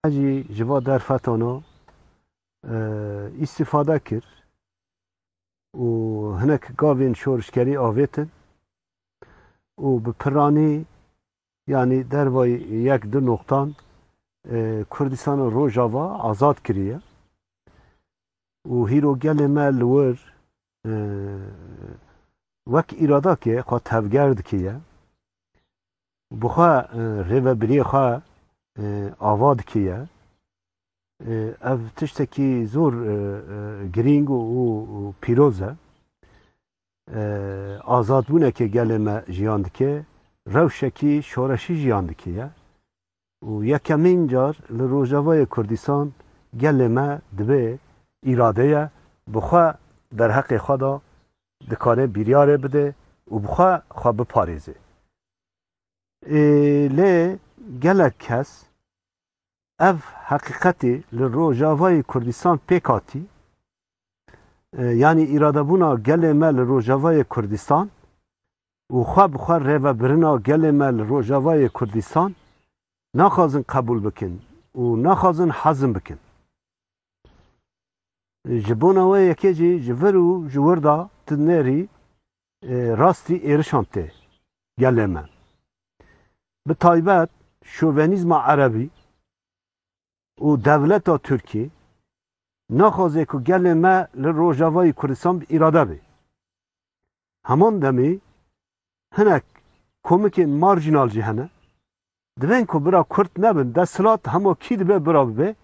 Hecî ji va derfetana îstîfade kir û hinek gavên şorişgerî avêtin û bi piranî yanî derva yek du noqtan Kurdistana Rojava azad kiriye û hîro gelê me li wir wek îradakê xwe tevger dikiye. bi xwe rêvebiriyê xwe ava dikiye. Ev tiştekî zor girîng û pîroz e. Azadbûnekê gelê me jiyan dike, rewşekî şoreşî jiyan dikiye. û yekemîn car li Rojavayê Kurdistan gelê me dibe îradeye bi xwe derheqê xwe de dikare bîryarê bide û bi xwe xwe biparêze. Ê lê gelek kes ev heqîqetê li Rojavayê Kurdistan pêk hatî yanî îradebûna gelê me li Rojavayê Kurdistan û xwe bi xwe rêvebirina gelê me li Rojavayê Kurdistan naxwazin qebûl bikin û naxwazin hezm bikin. Ji bona wê yekê jî ji vir û ji wir da tu nêrî rastî êrişan tê gelê me. Bi taybet şovenîzma erebî. Û dewleta Tirkî naxwaze ku gelê me li Rojavayê Kurdistan bi îrade bê. Heman demê hinek komikên marjînal jî hene. Divên ku bira Kurd nebin, desthilat hema kî dibe bira bibe.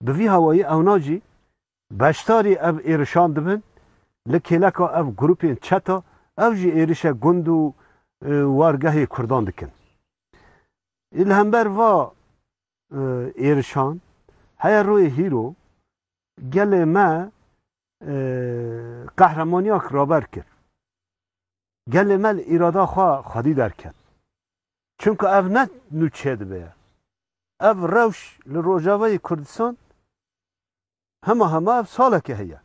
Bi vî hawayî ewna jî beşdarî ev êrişan dibin. Li kêleka ev grûpên çeta ew jî êrişe gund û wargehê Kurdan dikin. Î li hember va êrişan, heye royê hîro gelê me qehremaniyak raber kir. Gelê me li îrada xwe xwedî derket. Çimka ev ne nûçe dibe ye. Ev rewş li rojavayê Kurdistan hema hema ev saleke heye.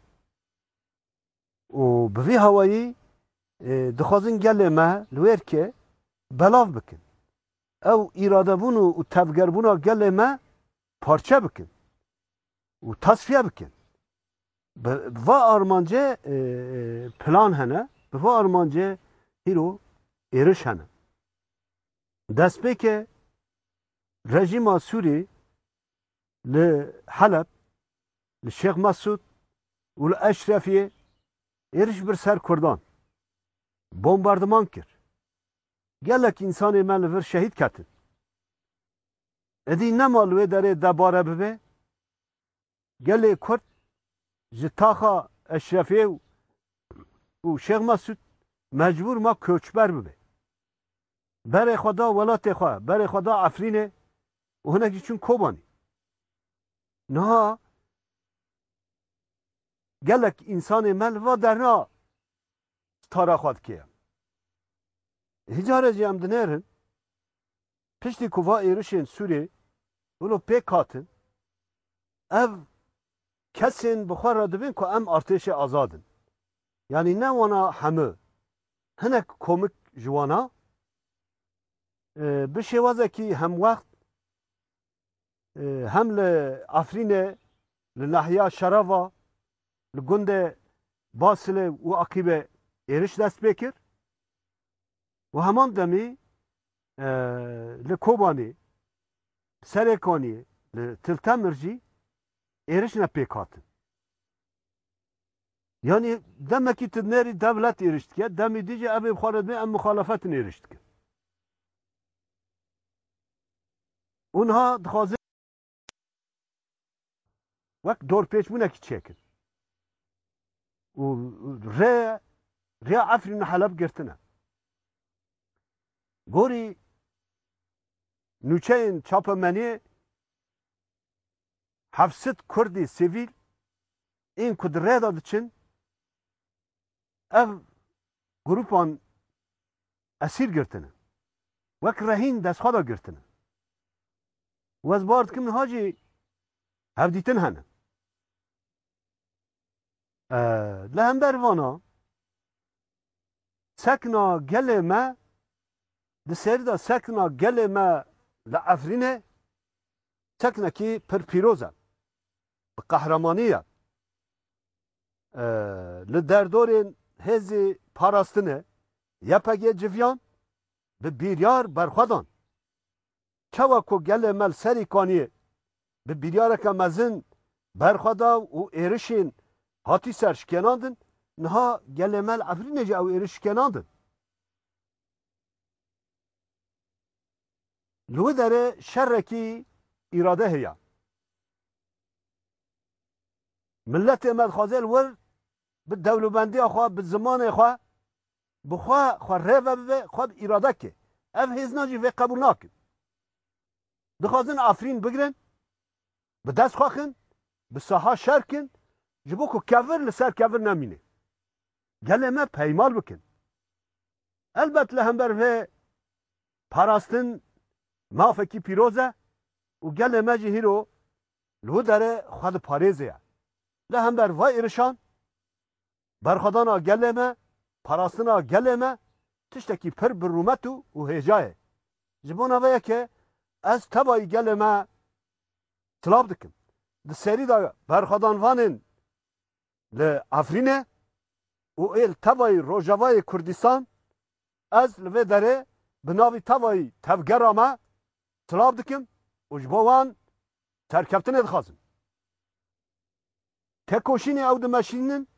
Û bi vî hawayî dixwazin gelê me li wê erkê belav bikin. Ew îradebûn û tevgerbûna gelê me parçe bikin û tasfiye bikin. Bi va armancê plan hene, bi va armancê hîro êriş hene. Destpêkê rejîma Sûrî li Heleb li Şêx Mesûd û li Eşrefiyê êriş bir ser kurdan, bombardiman kir. Gelek însanê me li vir şehîd ketin. Êdî nema li wê derê debare bibe, gelê kurd ji taxa Eşrefiyê û Şêx Mesûd mecbûr ma koçber bibe. Berê xwe da welatê xwe, berê xwe da Efrînê û hinek jî çûn Kobanî. Niha gelek însanê me li va derna stara xwe dike. Hê care jî em dinêrin piştî ku va êrişên Sûrê wilo pêk hatin ev kesên bi xwe re dibin ku em artêşê azad in. Yanî ne wana hemû. Hinek komik ji wan a. Bi şêwazekî hemwext hem li Efrînê li nahiya Şerava li gundê Basilê û Aqîbê êriş dest pê kir û heman demî li Kobanî, Serêkanî, li Tiltemir jî êriş ne pêk hatin. Yanî demekî tu dinêrî dewlet êriş dike, demî dî jî evê xwe re dibê em mixalefetin êriş dikin. û niha dixwaze wek dorpêçbûnekî çêkin û rê rêya Efrîn û Heleb girtine. Gorî nûçeyên çapemeniyê heft sed Kurdî sivîl ên ku di rê de diçin ev grûpan Esîr girtine. Wek rehîn destxweda girtine. Wez bar dikim niha jî hevdîtin hene. Li hember vana sekna gelê me di serî de sekna gelê me li Efrînê seknekî pir pîroz e. Bi qehremanî ye. Li derdorên hêzî parastinê YPG civiyan bi biryar berxwe dan. Çawa ku gelê me li serî kaniyê bi biryareke mezin berxwe da û êrişên hatî ser şikênandin, niha gelê me li Efrînê jî ew êriş şikênandin. Li wî derê şerekî îrade heye. Miletê me dixwaze li wir Bi dewlebendiya xwe, bi zimanê xwe, bi xwe xwe rê ve bibe, xwe bi îrade ke. Ev hêznan jî vê qebûl nakin. Dixwazin Efrîn bigirin, bi dest xwe kin, bi saha şer kin, ji bo ku kevir li ser kevir nemîne. Gelê me peymal bikin. Elbet li hember vê parastin mafekî pîroz e û gelê me jî hîro li wî derê xwe diparêzê ye. Li hember vê êrişan berxwedana gelê me, parastina gelê me tiştekî pir bi rûmet û hêja ye. Ji bona vê yekê ez tevayî gelê me silav dikim. Di serî de berxwedanvanên li Efrînê û ê li tevayî Rojavayê Kurdistan, ez li vê derê bi navî tevayî tevgera me silav dikim û ji bo wan serkeftinê dixwazim. Tekoşînê ew dimeşînin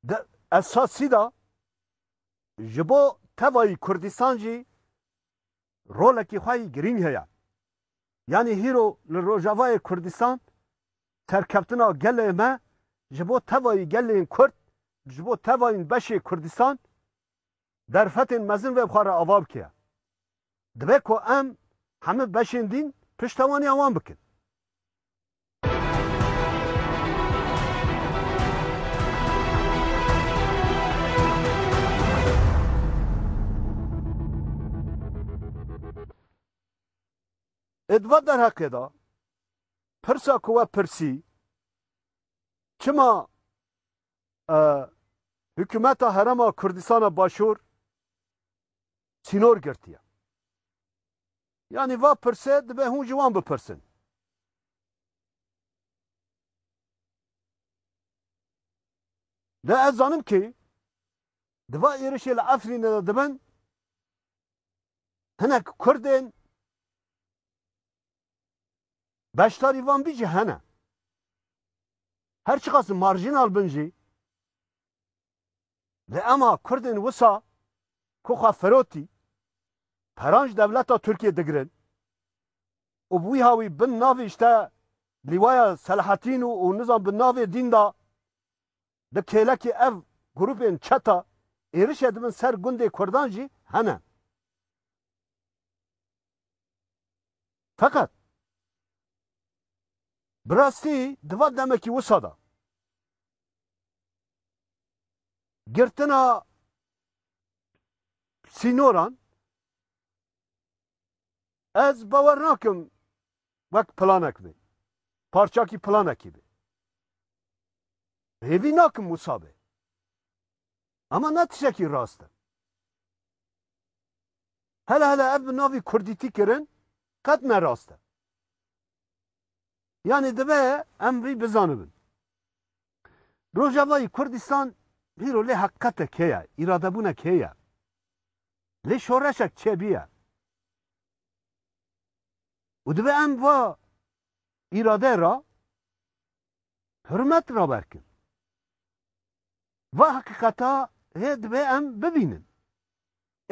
di esasî de ji bo tevayî Kurdistan jî rolekî xwe yî girîng heye. Yanî hîro li Rojavayê Kurdistan Serkeftina gelê me ji bo tevayî gelên Kurd, ji bo tevayîn beşê Kurdistan derfetên mezin vê xwe re ava bike. Dibe ku em hemû beşên dîn piştevaniya wan bikin. Ê di van derheqê de Pirsa ku we pirsî, çima hikûmeta Herêma Kurdistana Başûr sînor girtiye? Yanî va pirsê dibe hûn ji wan bipirsin. De ez zanim ki di va êrişê li Efrînê de dibin hinek Kurdên Beşdarî van bî jî hene. Her çiqas marjînal bin jî li ema Kurdên wisa ku xwe firotî peran ji dewleta Tirkiyê digirin û bi wî hawî bin navê îşte lîwaya Selahattîn û û nizam bi navê dîn da di kêlekê ev grûpên çeta êrişê dibin ser gundê Kurdan jî hene. Feqet, bi rastî di van demekî wisa de girtina sînoran ez bawer nakim wek planek bê, parçakî planekî bê. Hêvî nakim wisa bê. Ama na tişekî rast e. Hele hele ev bi navî kurdîtî kirin qet ne rast e. Yanî dibe em vî bizanibin. Rojavayî Kurdîstan hîro lê heqîqetek heye, îradebûnek heye. Lê şoreşek çêbîye. Û dibe em va îrade ra hurmet raber kin. Va heqîqeta hê divê em bibînin.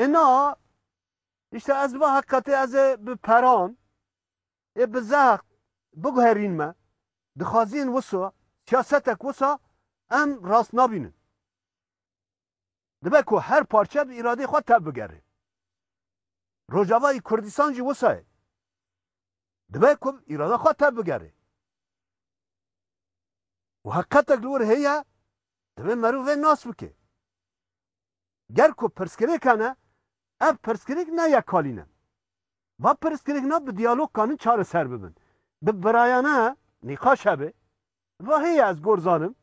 Îna îşte ez va heqîqetê ez ê bi peran ê bi zext biguherîn me. Dixwaziyên wisa, siyasetek wisa em rast nabînin. Dibe ku her parçe bi îradeyê xwe tevbigere. Rojavayê Kurdistan jî wisa ye. Dibe ku bi îrada xwe tevbigere. Û heqetek li wir heye divê meriv vê nas bike. Ger ku pirsgirêk hene, ev pirsgirêk ne yekalî ne. Va pirsgirêk ne bi diyalog kanin çareser bibin. Bi birayane nîqaş hebe. Va heye ez gor zanim.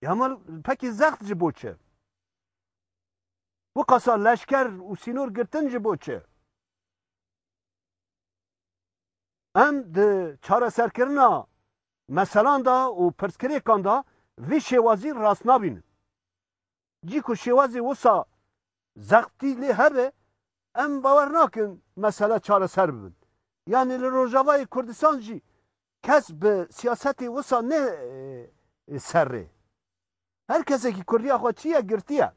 Ya mal pekî zext ji bo çi? Wiqasa leşker û sînor girtin ji bo çi? Em di çareserkirina meselan de û pirsgirêkan de vî şêwazî rast nabînin. Cî ku şêwazê wisa zextî lê hebe em bawer nakin mesele çareser bibin. Yanî li Rojavayê Kurdistan jî Kes bi siyasetê wisa ne serrê. Her kesekî kurdiya xwe çi ye girtiye.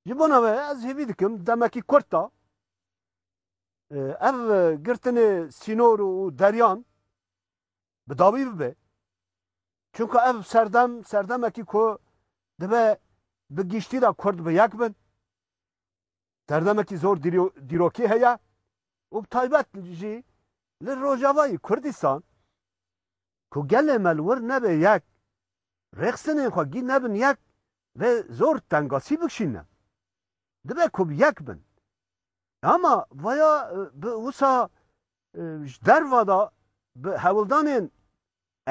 Ji bona ve ez hêvî dikim demekî kurt da ev girtinê sînor û deryan bi dawî bibe. Çunka ev serdem serdemekî ku dibe bi giştî de kurd bi yek bin. Derdemekî zor dîrokî heye û bi taybet jî li rojavayî Kurdistan ku gelê me li wir nebe yek, rêxsinên xwe gîn nebin yek vê zor tengasî bikşîne. Dibe ku bi yek bin. Ama vaya bi wisa ji derva de bi hewldanên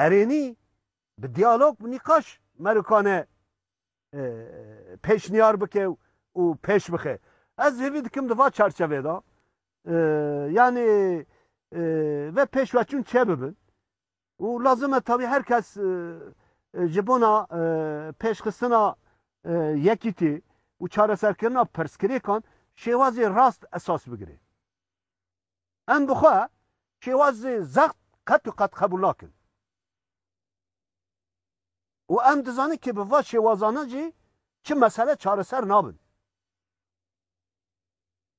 erênî, bi diyalog, bi nîqaş merikane pêşniyar bike û pêş bixe. Ez hêvî dikim di va çarçevê de yanî ve pêşveçûn çê bibin û lazim e tavî her kes ji bona pêşxistina yekîtî û çareserkirina pirsgirêkan şêwazê rast esas bigire. Em bi xwe şêwazê zext qet û qet qebûl nakin. Û em dizanin kê bi va şêwazane jî çi mesele çareser nabin.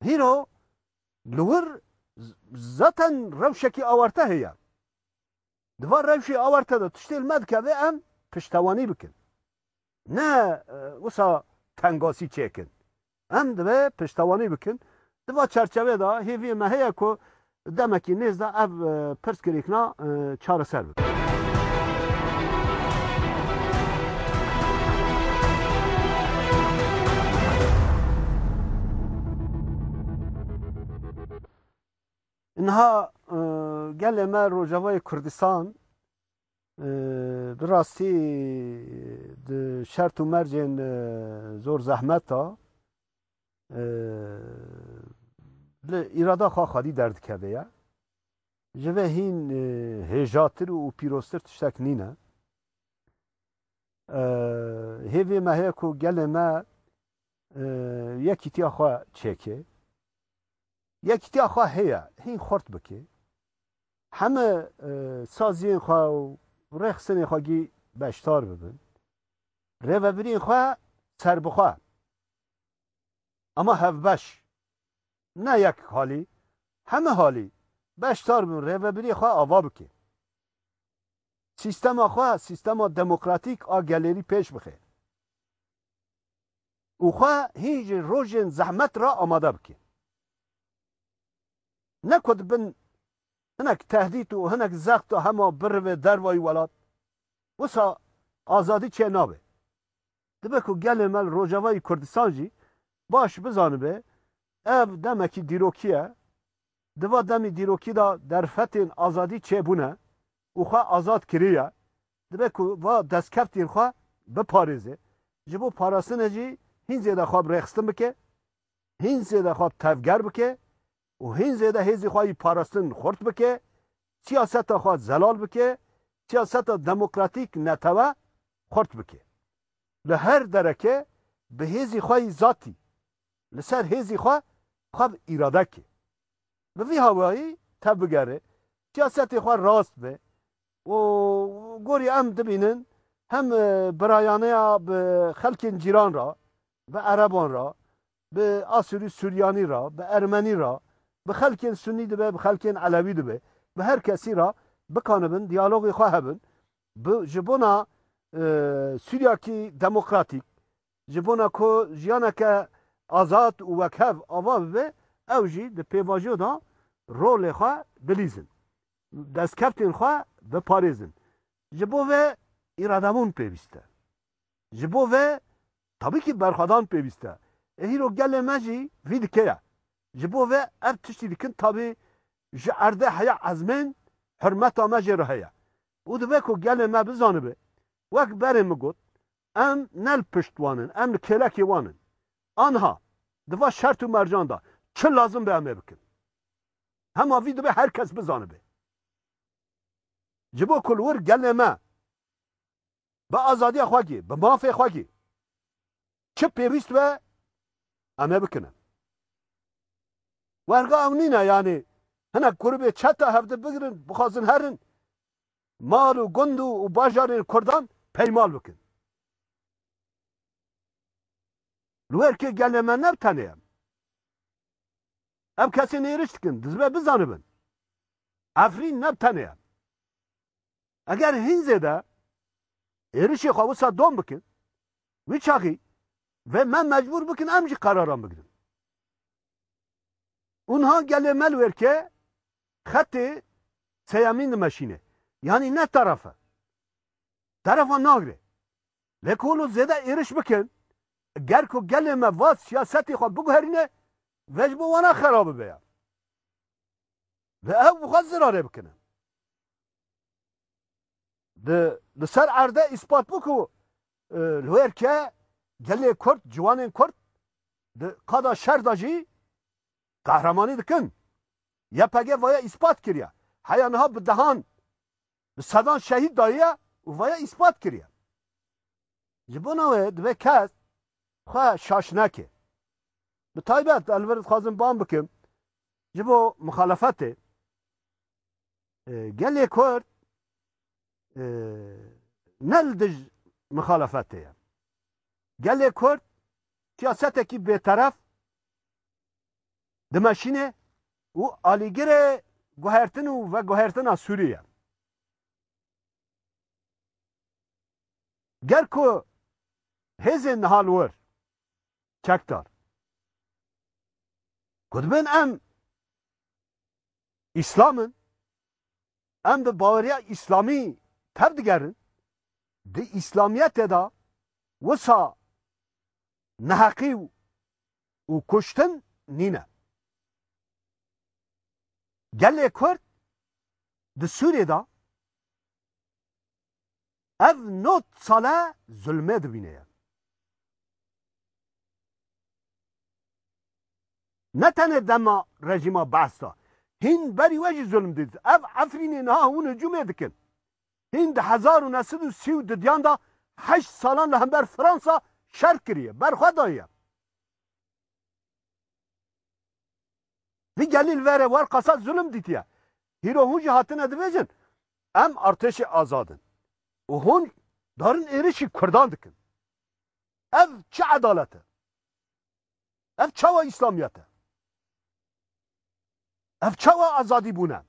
Hîro li wir zaten rewşekî awarte heye. Di va rewşê awarte de tiştê li me dikeve em piştewanî bikin. Ne wisa tengasî çêkin. Em divê piştewanî bikin. Di va çerçevê de hêviyê me heye ku demekî nêz de ev pirsgirêkna çareser bibe. Niha gelê me Rojavayê Kurdistan Bi rastî di şert û mercên zor zehmet de li îrada xwe xwedî derdikeve ye. Ji vê hîn hêjatir û pîroztir tiştek nîne. Hêvê me heye ku gelê me yekîtiya xwe çêkê. Yekîtiya xwe heye, hîn xurt bikê. Heme saziyên xwe û rexsinên xwe gî beşdar bibin. Rêvebiriyên xwe serbixwe ama hevbeş ne yek halî heme halî beşdar bibin rêvebiriyê xwe ava bikin. Sîstema xwe sîstema demokratîk a gelêrî pêş bixin. Û xwe hîn ji rojên zehmet re amade bikin. Ne ku dibin hinek tehdît û hinek zexta hema birive dervayî welat, wisa azadî çê nabe. Dibe ku gelê me li Rojavayî Kurdistan jî baş bizanibe ev demekî dîrokî ye. Di va demî dîrokî de derfetên azadî çê bûne û xwe azad kiriye. Dibe ku va destkeftên xwe biparêze. Ji bo parastinê jî hîn zêde xwe bi rêxistin bike hîn zêde xwe tevger bike û hîn zêde hêzê xwe yî parastin xurt bike, siyaseta xwe zelal bike, siyaseta demokratîk netewe xurt bike. Li her dereke bi hêzê xwe yî zatî li ser hêzê xwe xwe bi îrade ke. Bi vî hawayî tevbigere, siyasetê xwe rast be û gorî em dibînin hem birayaneya bi xelkên cîran re Bi Ereban re, bi Asûrî Sûryanî re, bi Ermenî re, bi xelkên Sunnî dibe, bi xelkên Elewî dibe, bi her kesî re bikanibin diyalogê xwe hebin, bi ji bona Sûryakî demokratîk, ji bona ku jiyaneke azad û wekhev ava bibe, ew jî di pêvajo de rolê xwe bilîzin, destkevtên xwe biparêzin. Ji bo vê îradebûn pêwîst e. Ji bo vê tabîkî berxwedan pêwîst e. Ê hîro gelê me jî vî dikê ye. Ji bo vê ev tiştî dikin tabî ji erdê heya ezmên hurmeta me jê re heye û divê ku gelê me bizanibe wek berê min got em ne li pişt wan in em li kêlekê wan in. Anha di va şert û mercan de çi lazim be em ê bikin. Hema vî divê her kes bizanibe. Ji bo ku li wir gelê me bi azadiya xwe kî, bi mafê xwe kî çi pêwîst be em ê bikinin. Werga ew nîne yanî hinek grûbê çeta hevdi bigirin bixwazin herin mal û gund û bajarên kurdan peymal bikin. Li wer kê gelê me ne tenê em. Ev kesên êriş dikin dizibe bizanibin. Efrîn ne tenê em. Eger hîn zêde êrişê xwe wisa dom bikin, wî çaxî vê me mecbûr bikin em jî qeraran bigirin. Û niha gelê me li wêrkê xetê seyemîn dimeşîne. Yanî ne teref e. Terefa nagre. Lê ku hûn zêde êriş bikin, ger ku gelê me va siyasetê xwe biguherîne, vê ji bo wan a xera bibe ya. Vê ew bi xwe zirarê bikine. Di li ser erde îspat bû ku li wêr ke gelê Kurd, ciwanên Kurd di qada şer de jî qehremanî dikin. YPG vaya îspat kiriye. Heya niha bi dehan, bi sedan şehîd dayiye û vaya îspat kiriye. Ji bona wê divê kes xwe şaş neke. Bi taybet ez li vir dixwazim bang bikim Ji bo muxalefetê gelê Kurd ne li dij muxalefetê ye. Gelê Kurd siyasetekî bêteref dimeşînê û alîgirê guhertin û veguhertina Sûrî ye. Ger ku hêzên niha li wir çekdar. Gotibin em İslam in, em bi baweriya İslamî tev digerin, di İslamiyetê de wisa neheqî û kuştin nîne. Gelê Kurd di Sûriyê de Ev not sale zulmê dibîne ye. Ne tenê dema rejîma Ba'th de, hîn berî we jî zulm dît. Ev Efrînê niha hûn hicûmê dikin. Hîn di hezar û neh sed û sî û du diyan de heşt salan li hember Fransa şer kiriye, berxwe daye. Di gelîl verê wer qasa zulm dîtiye. Hîro hûn jî hatine dibêjin em artêşê azad in û hûn darin êrişî kurdan dikin. Ev çi edalet e? Ev çawa îslamiyet e? Ev çawa azadî bûn e?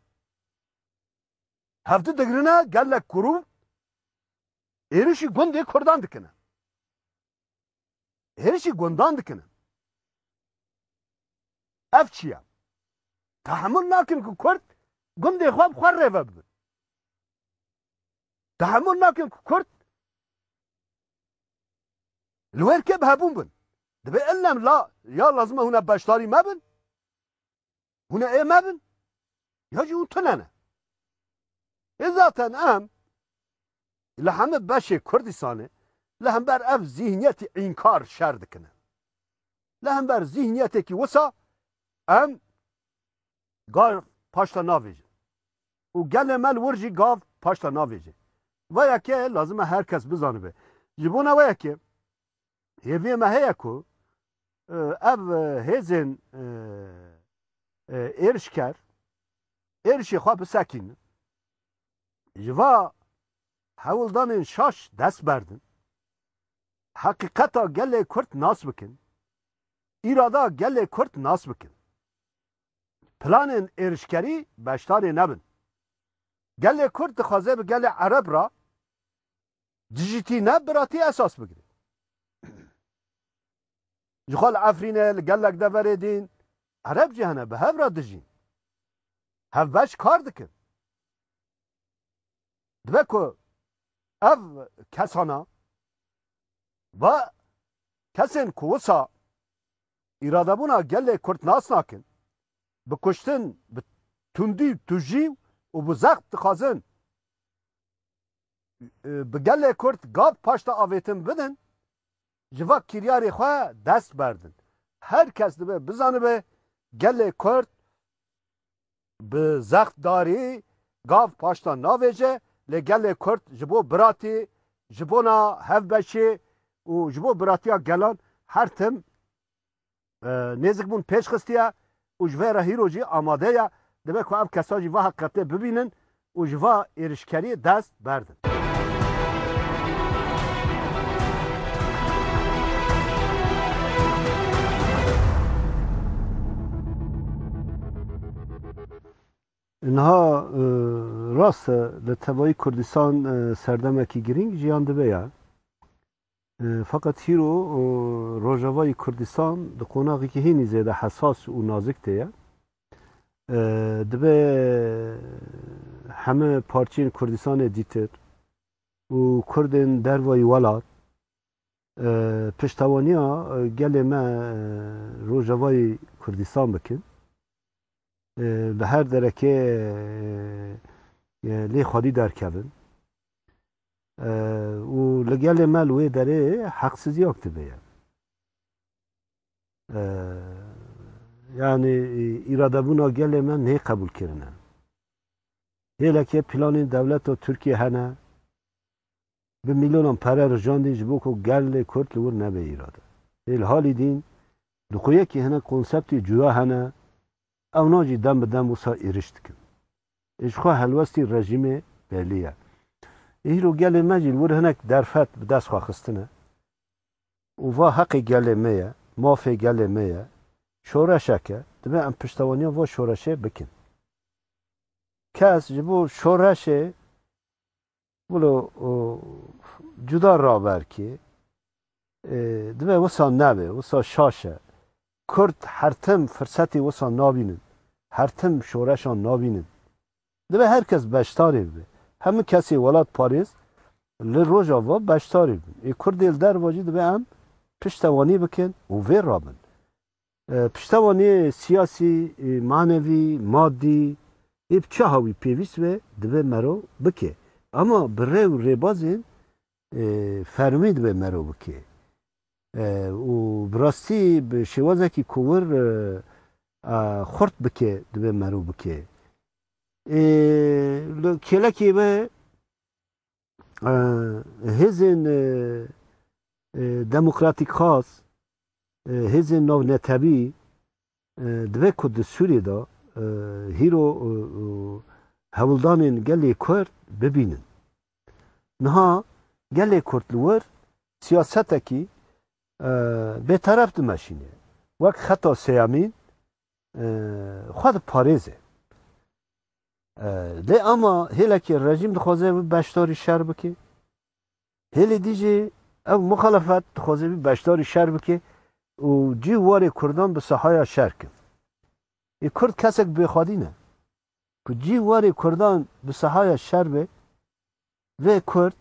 Hevdi digrine gelek kurû êrişî gundê kurdan dikine. hêrişî gundan dikin in. Ev çi ye? Tehemul nakin ku Kurd gundê xwe bi xwe rê ve bibin. Tehemul nakin ku Kurd li wê rikê bi hebûn bin. Divê illem la ya lazim e hûn e beşdarî me bin. Hûn ê me bin ya jî hûn tune ne. Ê zaten em li hemû beşê Kurdistanê li hember ev zîhniyetî înkar şer dikin e. Li hember zîhniyetekî wisa em gav paşta navêjin û gelê me li wir jî gav paşta navêje. Veyakê lazim e her kes bizanibe. Ji bona weyekê Hêviyê me heye ku ev hêzên êrişker êrişê xwe bisekînin, ji va hewldanên şaş dest berdin, heqîqeta gelê Kurd nas bikin, îrada gelê Kurd nas bikin. Planên êrişkerî beşdarê nebin. Gelê Kurd dixwaze bi gelê Ereb re Dijîtî ne biratî esas bigire. Ji xwe li Efrînê li gelek deverê dîn Ereb jî hene bi hev re dijîn. Hevbeş kar dikin. Dibe ku ev kesana ve kesên ku wisa îradebûna gelê Kurd nas nakin, bi kuştin, bi tundî û tujî û bi zext dixwazin Bi gelê Kurd gap paşta avêtin bidin, ji va kiryarê xwe dest berdin. Her kes dibe bizanibe gelê Kurd bi zext darî gav paşta navêje lê gelê Kurd ji bo biratî, ji bona hevbeşê û ji bo biratiya gelan her tim nêzik bûn pêş xistiye û ji vê re hîro jî amade ye. Dibe ku ev kesa jî wiha qetê bibînin û ji va êrişkeriyê dest berdin. Niha rast e li tevayî Kurdistan serdemekî girîng jiyan dibe ye. Feqet hîro Rojavayî Kurdistan di qonaxekî hînî zêde hesas û nazik de ye. Dibe heme parçeyên Kurdistanê dîtir û Kurdên dervayî welat piştewaniya gelê me Rojavayî Kurdistan bikin. Li her derekê lê xwedî derkevin. Û li gelê me li wê derê heqsiziyok dibe ye. Yanî îradebûna gelê me nê qebûlkirine. Hêlekê planên dewleta Tirkiyê hene bi mîlyonan pere rijandîn ji bo ku gelê Kurd li wir nebe îrade. Hêl halî dîn di xwe yekî hinek konseptê cuda hene Ewna jî dem bi dem wisa êriş dikin. Ê ji xwe helwestî rejîmê belî ye. Ê hîro gelê me jî li wir hinek derfet bi dest xwe xistine û va heqê gelê me ye, mafê gelê me ye, şoreşek e, dibe em piştewaniya va şoreşê bikin. Kes ji bo şoreşê Wilo cuda raber kê, dibe wisa nebe, wisa şaş e. Kurd her tim firsetê wisa nabînin, her tim şoreşan nabînin. Dibe her kes beşdarê bibe. Hemû kesê welat parêz li Rojava beşdarê bibin. Ê kurdê li derva jî dibe em piştewanî bikin û vê rabin. Piştevaniyê siyasî, manevî, madî ê bi çiha wî pêwîst be dibe merov bike. Ema bi rê û rêbazên fermî dibe merov bike. Û bi rastî bi şêwazekî ku wir a xurt bike dibe merov bike. Ê li kêlekê ve hêzên demokratîk xas, hêzên navnetewî divê ku di Sûriyê de hîro hewldanên gelê Kurd bibînin. Niha gelê Kurd li wir siyasetekî bêteref dimeşîne. Wek xeta sêyemîn xwe diparêze. Lê ama hêlekê rejîm dixwaze wî beşdarî şer bike. Hêlê dî jî ev muxalefet dixwaze wî beşdarî şer bike û cî warê kurdan bi sahaya şer kin. Ê kurd kesek bêxwedî ne. Ku cî warê kurdan bi sahaya şer be vê kurd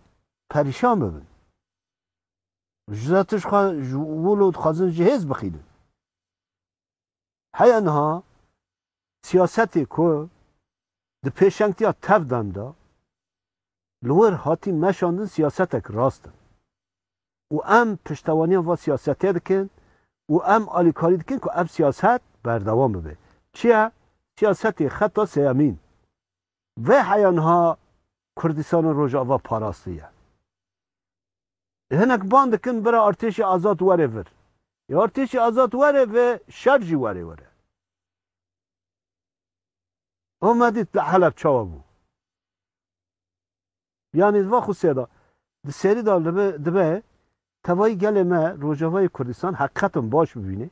perîşan bibin. Ji za tişt xwe ji wilo dixwazin ji hêz bixînin. Heya niha siyasetê ku di pêşengtiya tev dem de li wir hatî meşandin siyasetek rast e û em piştewaniya va siyasetê dikin û em alîkarî dikin ku ev siyaset berdewam bibe. Çi ye? Siyasetê xeta sêyemîn Vê heya niha Kurdistana Rojava parastiye. Hinek ban dikin bira Artêşê Azad were vir. Ya Artêşê Azad were ve şer jî were were. Ama dît li Heleb çawa bû. Yanî di van xusiya de di serî de li vir dibe tevayî gelê me Rojavayê Kurdistan heqîqetan baş bibîne.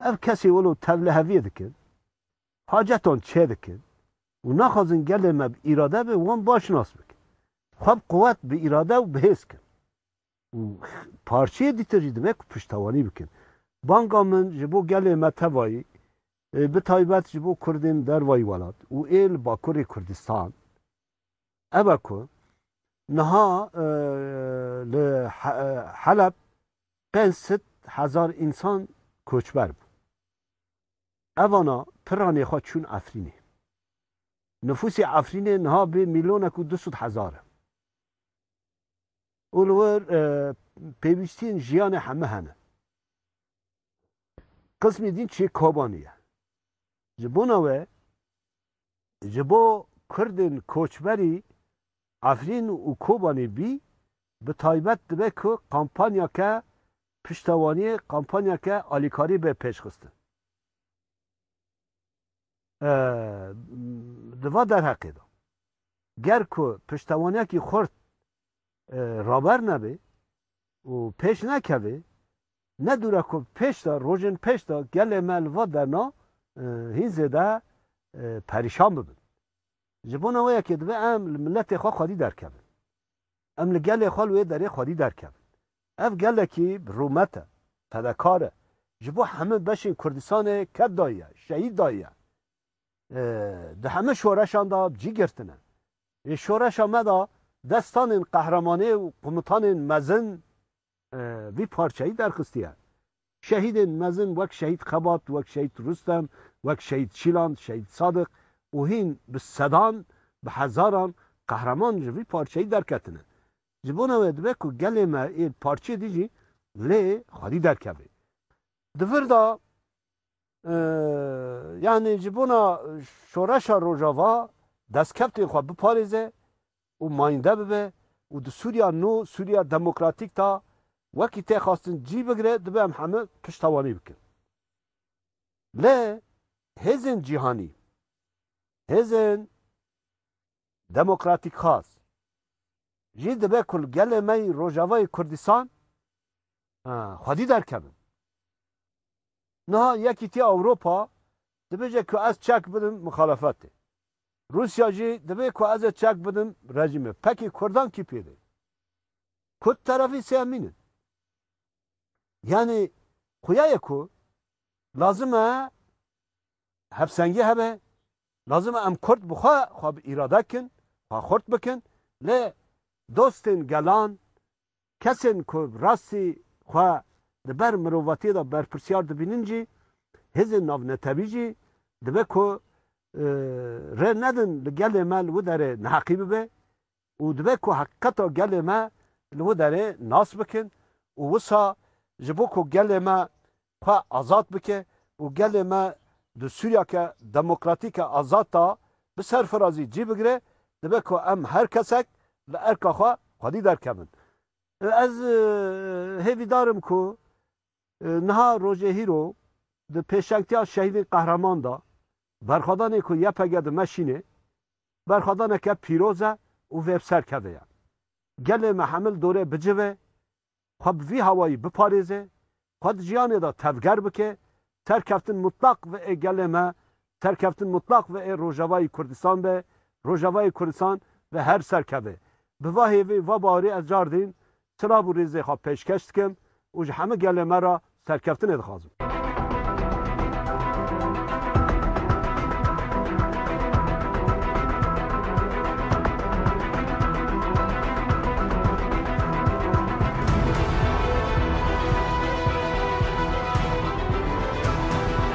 Ev kesên wilo tevliheviyê dikin, hacetan çêdikin û naxwazin gelê me bi îrade be wan baş nas bikin. Xwe bi quwet, bi îrade û bi hêz bikin. Û parçeyê dîtin jî dibe ku piştewanî bikin. Banga min ji bo gelê me tevayî bi taybet ji bo Kurdên dervayî welat û ê li Bakurê Kurdistan, ev e ku niha li Heleb pênc sed hezar însan koçber bûn. Evana piranê xwe çûn Efrînê. Nifûsê Efrînê niha bê mîlyonek û du sed hezar e. Û li wir pêwîstiyên jiyanê hemû hene. Qismê din çê Kobanê ye. Ji bona we ji bo Kurdên koçberî Efrîn û Kobanê bî, bi taybet dibe ku kampanyeke piştewaniyê, kampanyeke alîkarî be pêşxistin. Di va derheqê de, ger ku piştewaniyekî xurt Raber nebe û pêş nekeve. Ne dûre ku pêş de rojên pêş de gelê me li van derna hîn zêde perîşan bibin. Ji bona wê yekê divê em li miletê xwe xwedî derkevin. Em li gelê xwe li wê derê xwedî derkevin. Ev gelekî bi rûmet e, fedekar e. Ji bo hemû beşên Kurdistanê ked dayiye, şehîd dayiye. Di hemû şoreşan de bi cî girtine. Ê şoreşa me de destanên qehremanê û qomutanên mezin vî parçeyî derxistiye. Şehîdên mezin wek Şehîd Xebat, wek Şehîd Rustem, wek Şehîd Şîlan, Şehîd Sadik û hîn bi sedan, bi hezaran qehreman ji vî parçeyî derketine. Ji bona wê dibe ku gelê me ê parçeyê dijî lê xwedî derkeve. Di vir de Yanî ji bona şoreşa Rojava destkevtên xwe biparêze û mayinde bibe û di Sûriya nû, Sûriya Demokratîk da wekî tê xwestin cî bigire dibe em heme piştewanî bikin. Lê hêzên cîhanî, hêzên demokratîkxwaz jî dibe ku li gelê me yî Rojavayê Kurdistan xwedî derkevin. Niha Yekîtiya Ewropa dibêje ku ez çek bidim mixalefetê. Rûsya jî divê ku ez ê çek bidim rejîmê. Pekê Kurdan kî pêdê? Kurd terefî sêmîn in. Yanî xuya ye ku lazim e Hevsengî hebe, lazim e em kurd bi xwe xwe bi îrade bikin, xwe xurt bikin, lê dostên gelan, kesên ku bi rastî xwe di ber mirovatiyê de berpirsiyar dibînin jî, hêzên navnetewî jî dibe ku rê nedin li gelê me li widerê neheqî bibe, û dibe ku heqîqeta gelê me li wê derê nas bikin û wisa ji bo ku gelê me xwe azad bike û gelê me di Sûriyeke demokratîke azad de bi serfirazî cî bigire dibe ku em her kesek li erka xwe xwedî derkevin. Ez hêvîdar im ku Niha rojê hîro di pêşengtiya Şehîdên Qehreman de berxwedanê ku YPG di Meşînê berxwedaneke pîroz e û vê bi ser keve ye. Gelê me hemil dorê bicive, xwe bi vî hawayî biparêze, xwe di cîhanê de tevger bike, serkeftin mutlaq ve ê gelê me Serkeftin mutlaq ve ê Rojavayî Kurdistan be, Rojavayê Kurdistan ve her serkeve. Bi va hêvî, va bawerî ez car dîn silav û rîzê xwe pêşkeş dikim û ji hemû gelê me re serkeftinê dixwazim.